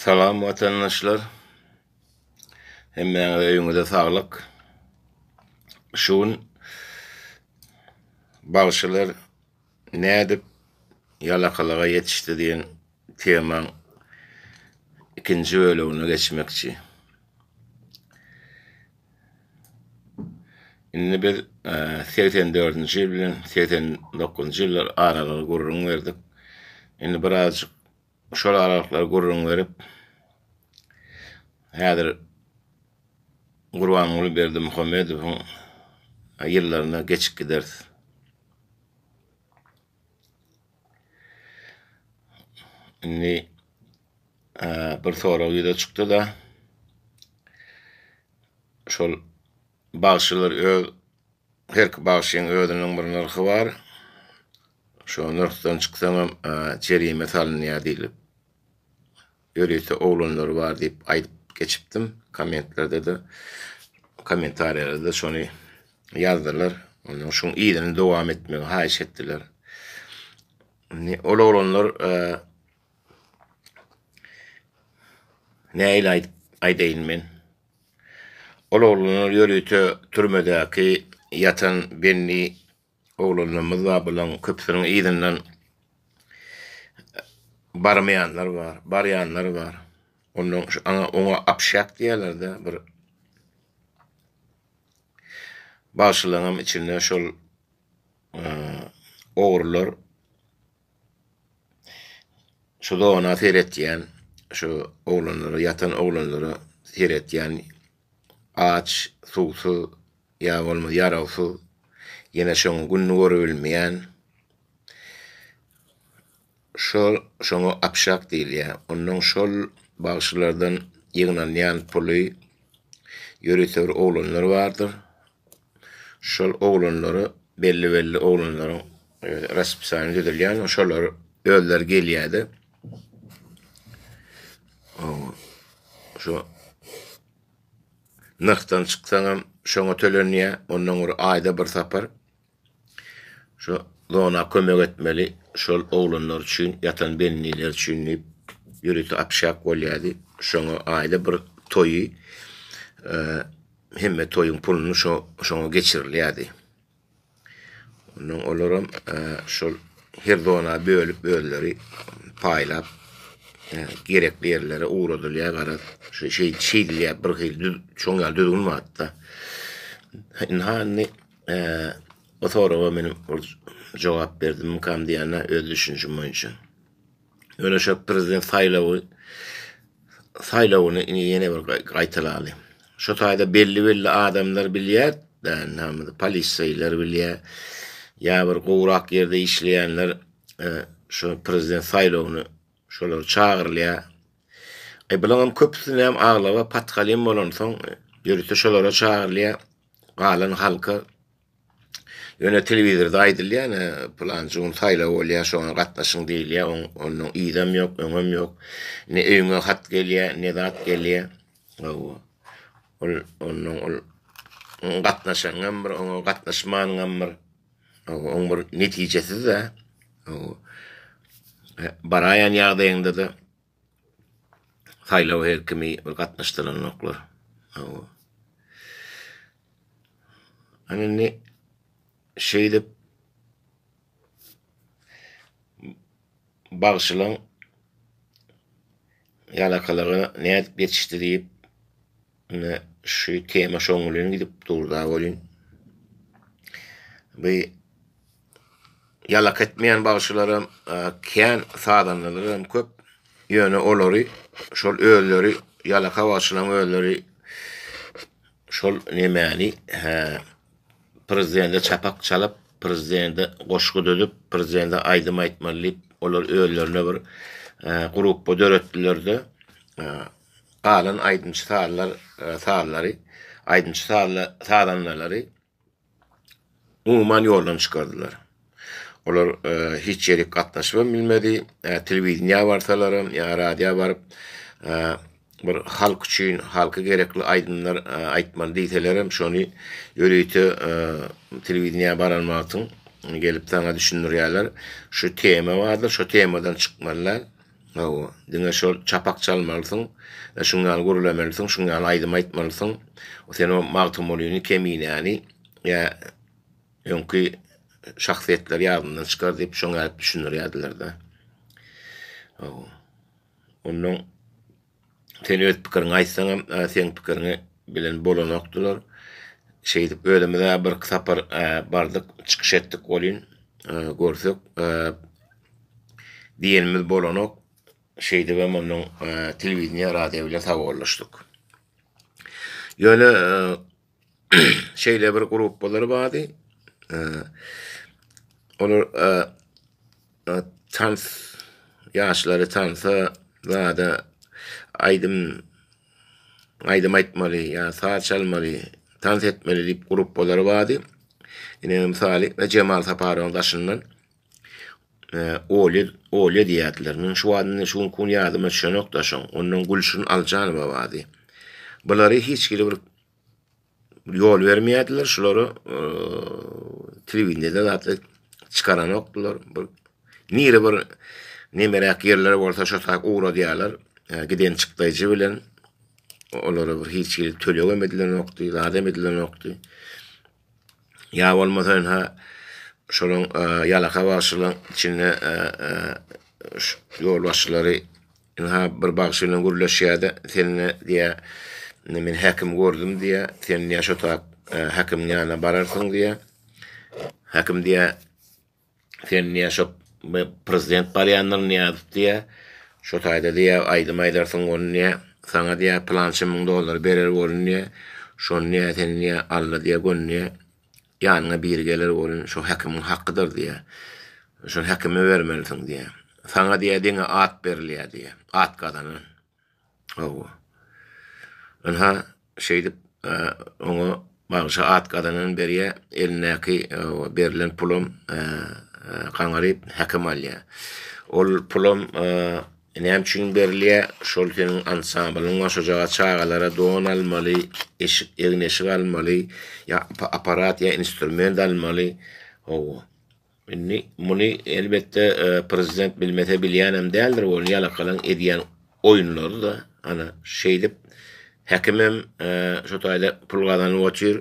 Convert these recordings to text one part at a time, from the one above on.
Salam watandaşlar. Hemmäňize öýüňize saglyk. Şu gün bagşylar nädip ýalakalyga ýetişdi diýen temaň ikinji bölegine geçmekçi. Indi biz segsen dördünji ýyl bilen segsen dokuzynjy ýyllar aralygy gürrüň berdik. Indi birazjyk şol aralyklary gürrüň berip, häzir Gurbanguly Berdimuhamedowyň ýyllaryna geçip gideris. Indi bir sorag ýüze çykdy-da, şol bagşylar öz, herki bagşyň özüniň bir nyrhy bar, şo nyrhdan çyksaňam jerime salynýar diýlip. Ýörite oglanlary bar diýip aýdyp geçipdim. Kommentlerde-de, kommentariýalarda-da şony ýazdylar. Ondan şuň yzyny dowam etmegi haýyş etdiler. Indi ol oglanlar nähili aýdyp aýdaýyn men? Ol oglanlar ýörite türmedäki ýatan Benni Oglanlarymyz bar, bularyň köpüsiniň yzyndan barmaýanlar bar, barýanlar bar. Ondan oňa apşak diýerler-de, bir bagşylaryňam içinde şol ogrular şu zona seretýän, şu oglanlara, ýatan oglanlara seretýän. Aç, suwsuz, ýa bolmasa ýarawsyz, ýene şoň gününi görübilmeýän. Şol şoňa apşak diýilýär. Ondan şol bagşylardan ýygnalýan puly ýörite bir oglanlar bardyr. Şol oglanlara belli-belli oglanlaryň raspisani düzülýän, şolar özleri gelýärdi. Şu nyrhdan çyksaňam şoňa tölenýär, ondan bir aýda bir sapar şu zona kömek etmeli, şol oglanlar üçin, ýatan benniler üçin diýip ýörite apşak bolýardy. Şoňa aýda bir toýy Hemme toýuň puluny şo şoňa geçirilýärdi. Ondan olaram e, şol her zona bölüp özleri paýlap e, gerekli ýerlere ugradylýar garaz. Şu şey şeýdilýär bir hil düz şoň ýaly düzgün barda. Indi hany e, o soraga meniň bir jogap berdim kam diýana öz düşünjim boýunça. Ýöne şu prezident saýlawy saýlawyny indi ýene bir gaýtalaly. Şu taýda belli-belli adamlar bilýär, näme polisýalar bilýär, ýa bir gowrak ýerde işleýänler e, şu prezident saýlawyny şolar çagyrylýar. E bularyň köpüsini hem aglaba patkalim bolansoň, ýörite şolara çagyrylýar. Galan halka Ýöne telewizorda aýdylýan, pylanjy gün saýlaw bolýar, şoňa gatnaşyň diýilýär, oň onnoň yzam ýok, öňem ýok. Ne öýüňe hat gelýär, ne zat gelýär. Hawa. Ol onnoň ol oň gatnaşanyňam bir, oňa gatnaşmanyňam bir. Hawa, oň bir netijesiz-dä. Hawa. Baraýan ýagdaýyňda-da Saýlawa her kimi bir gatnaşdyranoklar. Hawa. Ana indi şeýdip bagşylaň ýalakalara nädip ýetişdi diýip ine şu tema şoňulyny gidip durda welin bu Ýalak etmeýän bagşylaram, kän sazandalaram köp. Ýöne olary şol özleri ýalaka bagşylaryň özleri şol nemäni, hä, prezidende çapak çalyp, prezidende goşgy düzüp, prezidende aýdym aýtmaly diýip, olar özlerine bir gruppa döretdiler-de, galan aýdymçy-sazlar, sazlary, aýdymçy-sazandalary. umuman ýoldan çykardylar. Olar hiç ýerik gatnaşybam bilmedi. Telewideniýä barsalaram ýa radioýa baryp bir halk üçin, halka gerekli aýdymlar aýtmaly diýselerem şony ýörite telewideniýä baran wagtyň gelip saňa düşündirýärler. Şu tema bardyr, şu temadan çykmaly däl. Hawa, diňe şol çapak çalmalysyň, şuň ýaly gürlemelisin, şuň ýaly aýdym aýtmalysyň. Sen o Magtymgulyny, Keminäni ýa öňki şahsyýetleri ýadyndan çykar diýip, şoňa düşündirýärdiler-de. Hawa. Onnoň Sen öz pikiriňi aýtsaňam, seň pikiriňi bilen bolanokdylar. Şeýdip özümiz bir sapar bardyk, çykyş etdik welin, görsek, diýenimiz bolanok. Şeýdibem onnoň telewideniýe, radio bilen sawollaşdyk. Ýöne şeýle bir gruppalar bardy. Olar tans ýaşlary tansa zada aýdym aýdym aýtmaly ýa saz çalmaly, tans etmeli diýip gruppalar bardy. Ine misaly Jemal Saparowyň daşyndan Olya Olya diýýärdiler. Men şu wagtda şu gün ýadyma düşenok daşyň. Ondan Gülşin Aljanowa bardy. Bulary hiç hili bir ýol bermeýärdiler şulara telewideniýede zady çykaranokdylar bir nire bir nemeräk ýerler bolsa şo tak ugradýarlar giden çykdaýjy bilen olara bir hiç hili tölegem edilenokdy zadem edilenokdy ýa bolmasa ha şolaň ýalaka bagşylaň içinde ýolbaşçylary Ynha, bir bagşy bilen gürleşýär-de, Seniň-ä, diýýär, men häkimi gördüm, diýýär, sen, diýýär, şo sagat häkimiň ýanyna bararsyň, diýýär. Häkim diýýär, Sen, diýýär, şo prezident barýandyr, Nyýazow, diýýär. Şo taýda, diýýär, aýdym aýdarsyň, ony, diýýär, saňa, diýýär, pylança müň dollar berer, bolun, diýýär. Şony, diýýär, seni, diýýär, Alla, diýýär, göndi. Ýanyňa biri geler welin, şo häkimiň hakydyr diýer. Şony häkime bermelisiň diýer. Saňa diýer, diňe at berilýär diýer. At gazanan. Hawa. Ynha, şeýdip, oňa bagşa at gazanan berýär, elindäki berlen pulam gaňaryp, häkim alýar. Ol pulam. Näme üçin berilýä şol seniň ansamblyň goşajaga çagalara don almaly eşik egin eşik almaly ýa aparat ýa instrument almaly hawa indi muny elbetde prezident bilmese bilýänem däldir ol ýalakalaň edýän oýunlary da ana şeýdip häkimem şo taýda pul gazanyp otyr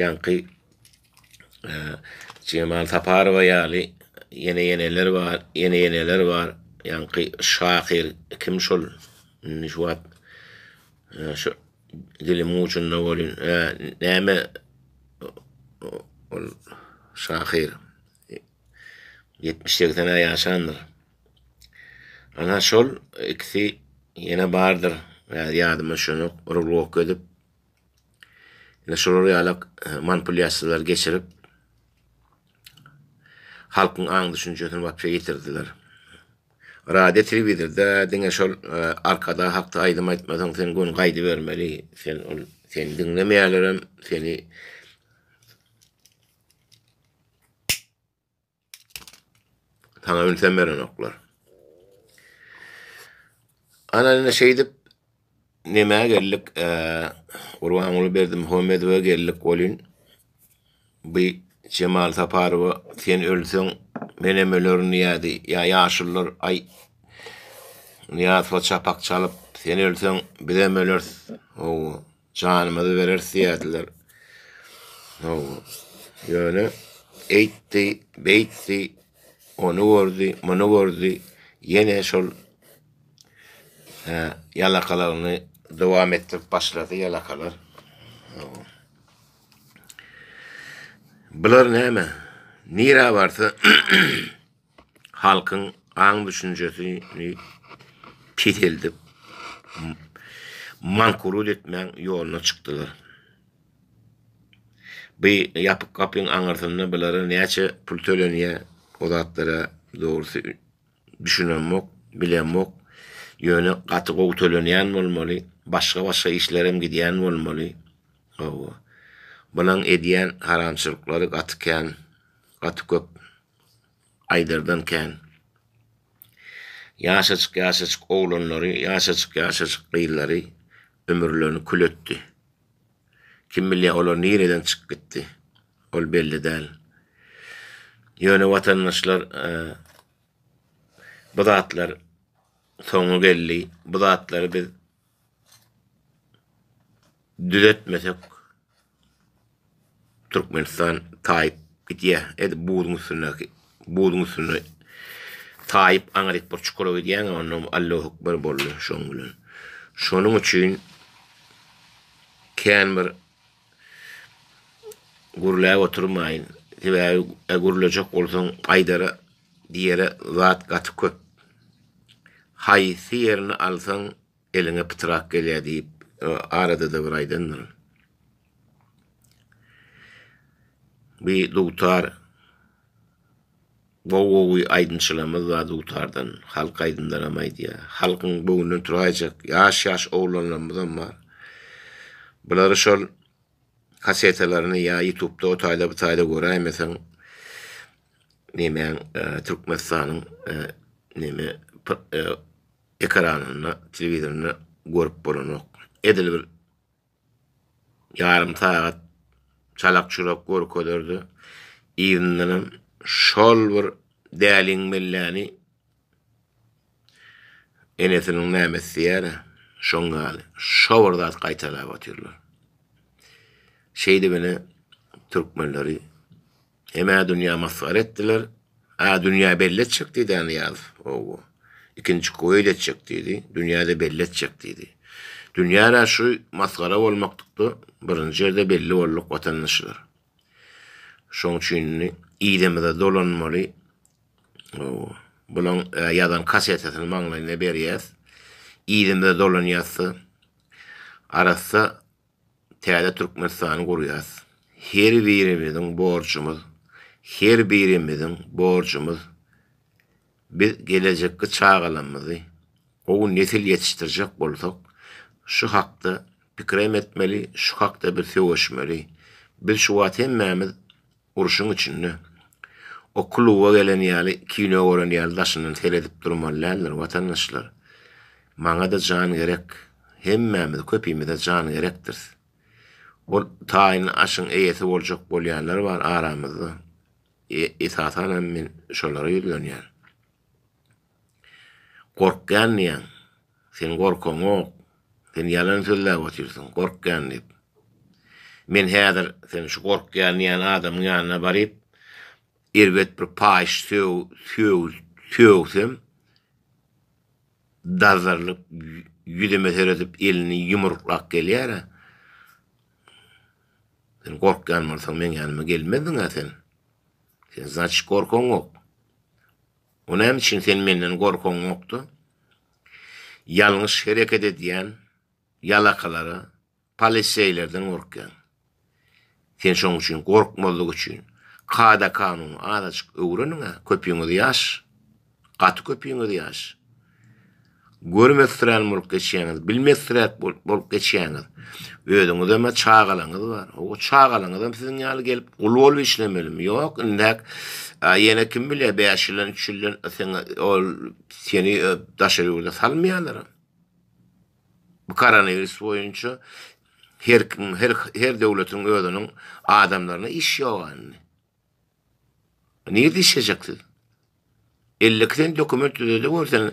ýaňky Jemal Saparowa ýaly ýene ýeneler bar, ýene ýeneler bar. Ýaňky şahyr kim şol? Indi şu wagt şu dilim ucunda bolýan. Näme ol şahyr 70-80 aý ýaşandyr. Ana şol ikisi ýene bardyr. Ýadyma şunu urulok edip Ine şular ýaly manipulýasiýalar geçirip, halkyň aň-düşünjesini wapşe ýitirdiler. Radio, telewizorda diňe şol e, arkadag hakda aýdym aýtmasaň, sen gün gaýdybermeli, sen ol seni diňlemeýärlerem, seni Sana ünsem berenoklar. Ana indi şeýdip nämä geldik? Gurbanguly berdim Homedowa geldik bolin. Bu Cemal Saparowa sen ölseň men hem ölerin diýdi. Ya yaşullar ay Niyazova çapak çalyp sen ölseň biz hem öleris. Owo. Janymyzy bereris diýýärdiler. Hawa. Ýöne eýtdi, beýtdi, ony gördi, muny gördi, ýene şol hä, ýalakalaryny dowam etdirip başlady ýalakalar. Hawa. Bular näme? Nirä barsa halkyň aň-düşünjesini peseldip, mankurut etmäň ýoluna çykdylar. Bu ýapyk gapyň aňyrsynda bulara näçe pul tölenýär, o zatlara dogrusy düşünemok, bilemok. Ýöne gaty gowy tölenýän bolmaly, başga-başga işlerem gidýän bolmaly. Hawa, bulaň edýän haramçylyklary gaty kän, gaty köp. Aýdardan kän. Ýaşajyk-ýaşajyk oglanlary, ýaşajyk-ýaşajyk gyzlary ömürlerini kül etdi. Kim bilýär, olar nireden çykyp gitdi? Ol belli däl. Ýöne watandaşlar bu zatlar soňy geldi. Bu zatlary biz Düzeltmesek Türkmenistan taýyp gidýär. Edip buzuň üstündäki buzuň üstünde taýyp aňryk bir çukura gidýär, onda Allahu ekber boldy şoň bilen. Şonuň üçin kän bir gürläp oturmaýyn. Sebäbi gürlejek bolsaň aýdara Diýere zat gaty köp. Haýsy ýerini alsaň eliňe pytrak gelýär diýip arada-da bir aýdandyryn. Bir dutar gowy-gowy aýdymçylarymyz bar dutardan, halk aýdymlaram aýdýar. Halkyň göwnünden turaýjak ýaş-ýaş oglanlarymyzam bar. Bulary şol kasetalaryny ýa ýutubda o taýda bu taýda göräýmeseň nemäň e, Türkmenistanyň e, neme e, ekranynda, telewizorynda görüp bolanok. Edil bir ýarym sagat çalak çurak görkezerdi. Ýerinden hem şol bir däliň melläni Enesiniň näme isleýär-ä, şoň ýaly, şo bir zat gaýtalap otyrlar. Şeýdip ine, türkmenleri hem-ä dünýä masgara etdiler, a dünýä belli etjek diýdi-ä Nyýazow, owo, ikinji queýd etjek diýdi, dünýä-de belli etjek diýdi. Dünýä-de şu masgara bolmaklykda birinji ýerde belli bolduk watandaşlar. Şoň üçin indi yzymyza dolanmaly. Bunuň ýazan kassetasini maňlaýyna berýäs. Yzymyza dolanýas-da, arassa täze Türkmenistany gurýas. Her birimiziň borjumyz, her birimiziň borjumyz biz gelejekki çagalarymyzy gowy nesil ýetişdirjek bolsak, şu hakda pikrem etmeli, şu hakda biz söweşmeli. Biz şu wagt hemmämiz Urşuň içinde. O kluba gelen ýaly, kino gören ýaly daşyndan seredip durmaly däldir, watandaşlar. Maňa-da jan gerek. Hemmämiz, köpimize jan gerekdiris. Ol taýynly aşyň eýesi boljak bolýanlar bar aramyzda. Esasanam men şolara ýüzlenýän. Gorkýan diýýäň. Seniň gorkaňok. Sen ýalan sözläp otyrsyň, gorkýan diýip. Men häzir seniň şu gorkýan diýýän adamyň ýanyna baryp, erbet bir paýyş sögsem, dazzarylyp, ýüzüme seredip, elini ýumruklap gelýär-ä. Sen gorkýan bolsaň, meň ýanyma gelmezdiň-ä sen. Sen, znaçyk, gorkaňok. O näme üçin sen menden gorkaňokdy? Ýalňyş hereket edýän ýalakalara, poliseýlerden gorkýaň. Sen şoň üçin gorkmazlyk üçin kada-kanun azajyk öwreniň-ä, köpüňiz ýaş, gaty köpüňiz ýaş. Görmezsirän bolup geçýäňiz, bilmezsiräk bolup geçýäňiz. Özüňizem-ä çagalaňyz bar. Hawa, çagalaňyzam siziň ýaly gelip gul bolup işlemelimi? Ýok, indäk ýene kim bilýär, bäş ýyldan, üç ýyldan öteňä ol seni daşary ýurda salmaýarlaram. Bu koronawirus boýunça her kim, her döwletiň özüniň adamlaryna iş ýoga indi. Nirde işlejeksiz? 52 sen dokument düzedewürsen,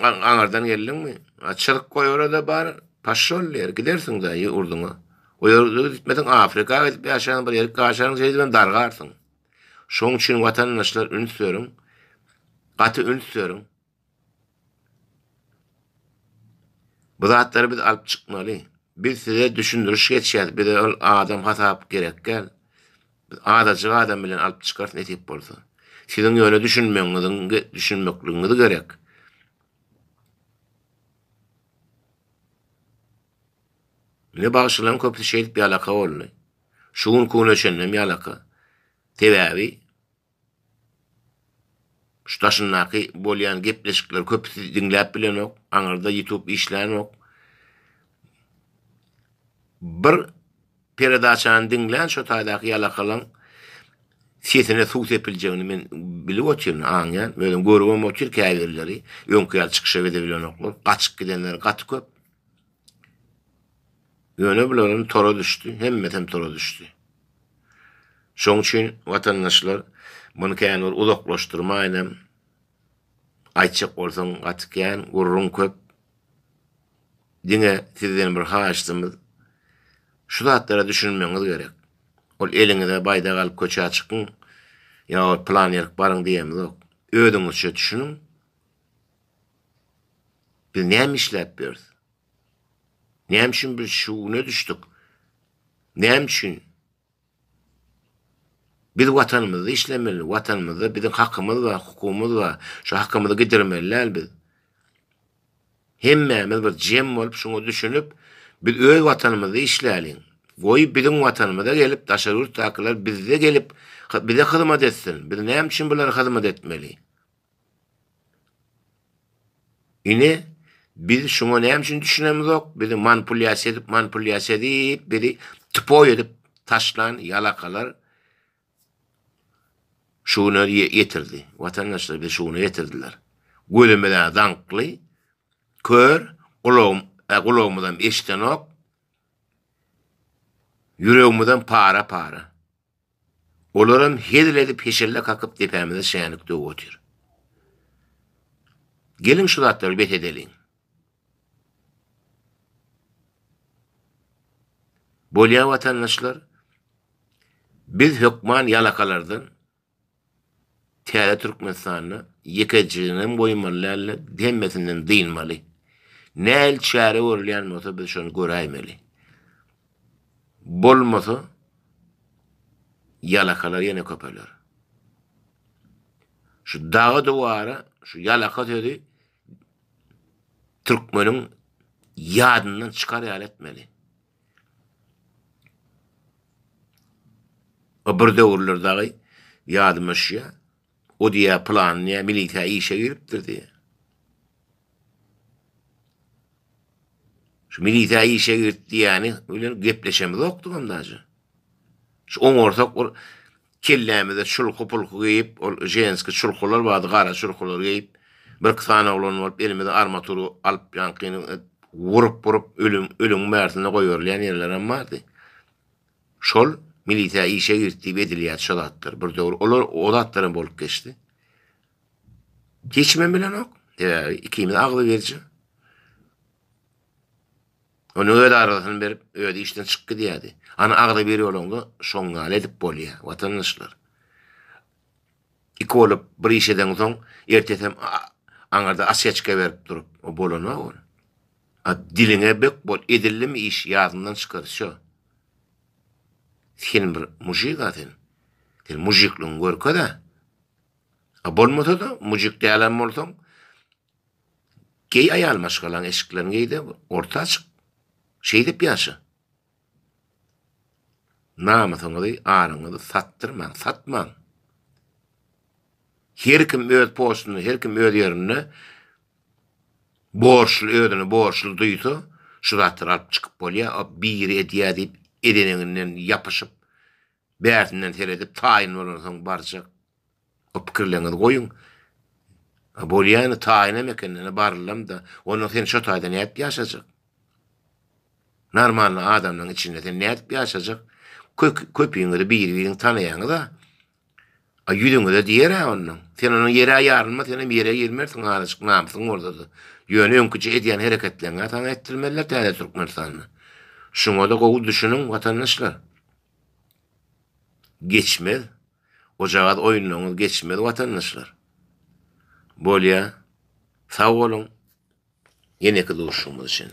aňardan geldiňmi? Açylyk goý orada bar, paşol ýer, gidersiň da ýurduňa. O ýerde gitmesiň Afrika gidip ýaşaň, bir ýerik ýaşaň, şeýle bilen dargarsyň. Şoň üçin watandaşlar üns beriň. Gaty üns beriň. Bu zatlary biz alyp çykmaly. Biz size düşündiriş geçýäs, bize ol adam hasap gerek däl. Biz adajyk adam bilen alyp çykarys nesip bolsa. Siziň ýöne düşünmegiňiziň düşünmekligiňiz gerek. Mine bagşylaryň köpüsi şeýdip ýalaka boldy. Şu gün küne çenlem ýalaka. Sebäbi Şu daşyndaky bolýan gepleşikleri köpüsi diňläp bilenok, aňyrda ýutup işlänok. Bir peredaçany diňlän şo taýdaky ýalakalaň sesine suw sepiljegini men bilip otyryn, aňýan, özüm görübem otyr käbirleri öňki ýaly çykyşa gide bilenoklar, gaçyp gidenleri gaty köp. Ýöne bularam tora düşdi, hemmesem tora düşdi. Şoň üçin watandaşlar muny kän bir uzaklaşdyrmaýynam. Aýtjak bolsaň gaty kän, gürrüň köp. Diňe sizden bir haýyştymyz, şu zatlara düşünmegiňiz gerek. Ol eliňize baýdak alyp köçä çykyň ýa ol plan ýerik baryň diýemizok. Özüňizçe düşüniň. Biz näme işläp ýörüs? Näme üçin biz şu güne düşdük? Näme üçin? Biz watanymyzda işlemeli, watanymyzda biziň hakymyz bar, hukumymyz bar. Şu hakymyzy gidirmeli däl biz. Hemmämiz bir jem bolup şuňa düşünip, biz öz watanymyzda işläliň. Goý biziň watanymyza gelip, daşary ýurtdakylar bizde gelip, bize hyzmat etsin. Biz näme üçin bulara hyzmat etmeli? Ine, biz şuňa näme üçin düşünemizok? Bizi manipulýasiýa edip, manipulýasiýa edip, bizi tupoý edip taşlan ýalakalar şu güne ýetirdi. Watandaşlar bizi şu güne ýetirdiler. Gözümiz-ä zaňkly, kör, gulagym, e, gulagymyzam eşidenok. Ýüregimizem para-para. Olaram hezil edip heşelle kakyp depämize şänik döwüp otyr. Geliň şu zatlary bes edeliň. Bolýa watandaşlar, biz hökman ýalakalardan, Täze Türkmenistanda ýeke jiginem goýmaly däldi, hemmesinden dynmaly. Nähili çäre görülýän bolsa biz şony göräýmeli. Bolmasa ýalakalar ýene köpeler. Şu daga duwara şu ýalaka sözi türkmeniň ýadyndan çykar ýaly etmeli. O bir döwürler dagy ýadyma düşýä. O diýýä plan diýýä milisiýa işe giripdir diýýä. Şu milisiýa işe girip diýýäni bilen gepleşemizokdygam daže. Şu oňarsak bir Kellämize çulky-pulky geýip, ol ženskiý çulkular bardy, gara çulkular geýip, birki sany oglan bolup, elimize armatury alyp, ýaňkynyň wurup-wurup, ölüm, ölüň bärsine goýberilýän ýerlerem bardy. Şol milisiýa işe girt diýip edilýärdi şo zatlar. Bir döwür olar, o zatlaram bolup geçdi. Hiç kimem bilenok. Sebäbi ikimiz agzybirje. Onuň öz arzasyny berip, özi işden çykyp gidýärdi. Ana arza berýoloňda şoň ýaly edip bolýar, watandaşlar. Iki bolup bir iş edeňsoň, ertesem aňarda osýaçka berip durup, o bolanok ol. A diliňe bek bol, edildimi iş, ýadyňdan çykar, wsýo. Sen bir mujik-a sen. Sen mujikligiňi görkez-ä. A bolmasa-da, mujik dälem bolsaň, Geý aýal maşgalaň eşiklerini geýde orta açyk. Şeýdip ýaşa. Namysyňyzy, aryňyzy satdyrmaň, satmaň. Her kim öz postunda, her kim öz ýerinde borçly, özüni borçly duýsa, şu zatlary alyp çykyp bolýar, biri edýär diýip edeniňinden ýapyşyp, Bärsinden seredip taýyn bolansoň barjak. O pikirleriňizi goýuň. A bolýany taýynam eken ene barylamda. Onda sen şo taýda nädip ýaşajak? Normalny adamlaryň içinde sen nädip ýaşajak? Kök köpiňizi biri-biriňizi tanaýaňyz-a. A ýüzüňize diýer-ä ondan. Sen onuň ýer-ä ýarylma senem ýere girmersiň azajyk namysyň bolsada. Ýöne öňküje edýän hereketleriňi-ä saňa etdirmezler täze Türkmenistanda. Şuňada gowy düşüniň watandaşlar. Geçmez. Gojagaz oýunlaryňyz geçmez watandaşlar. Bolýa. Sag boluň. Ýeneki duşuşygymyz üçin.